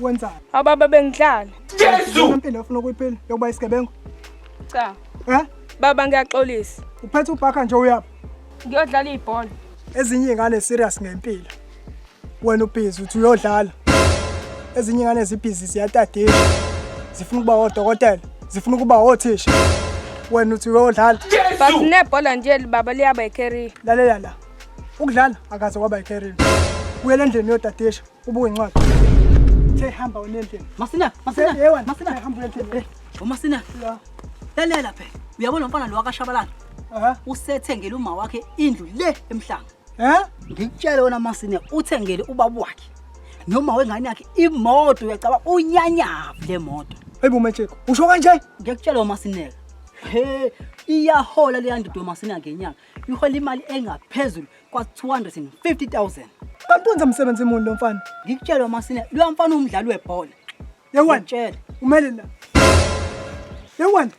wenzani? Ababa bengihlala. Jesu! Impilo ufuna ukuyiphila yokuba isigebengu? Cha. Eh? Baba ngiyaxolisa. Uphethe ubhaka nje uyaphi? Ngiyodlala ibhola. Ezinye ingane serious ngempilo. Wena ubhizi uthi uyodlala. Ezinye ingane zibhizi ziyatadisha. Zifuna ukuba odokotela, zifuna ukuba othisha. Wena uthi uyodlala. Baba nebhola nje baba liyaba icarrier. Lalela la. Ukudlala akaze kwaba icarrier. Uyele endlini yodadisha. ubuke incwadi Che hamba unendlini. Masina, masina. Yewa, masina hamba unendlini. Eh, umasina. La. Lalela phela. Uyabona lo mfana lo wakashabalala. Aha. Usethengele uma wakhe indlu le emhlanga. Eh? Ngikutshele wena masina uthengele ubaba wakhe. Noma wengane yakhe imoto uyacaba unyanyaba le moto. Hayibo Macheko. Usho kanje? Ngiyakutshela umasineka. He, iyahola leyandodo masina ngenyanga. Ihola imali engaphezulu kwa 250000 kanti wenza msebenzi muni lo mfana ngikutshela masina lo mfana umdlali webhola yewena tshela umele la yewena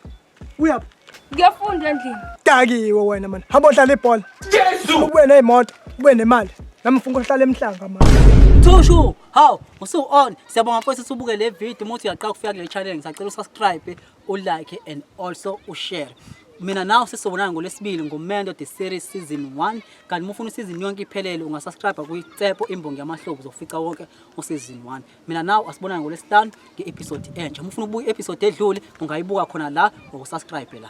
uyaphi ngiyafunda endlini dakiwe wena mani hamba odlala ibhola jesu ube neyimoto ube nemali nami ngifuna ukuhlala emhlanga mani Thushu, haw, usu on. Siyabonga mfowethu usubuke le video umuthi uyaqala ukufika kule channel ngisacela usubscribe ulike and also ushare mina nawe sesizobonana ngolwesibili ngomendo the series season 1 kanti uma ufuna isizini yonke iphelele ungasubscribe kuyitsepo imbongi yamahlobo uzofica wonke usizini 1 mina nawe asibonane ngolwesihlanu nge-episode entsha uma ufuna ukubuka i-episode edlule ungayibuka khona la ngokusubscribe la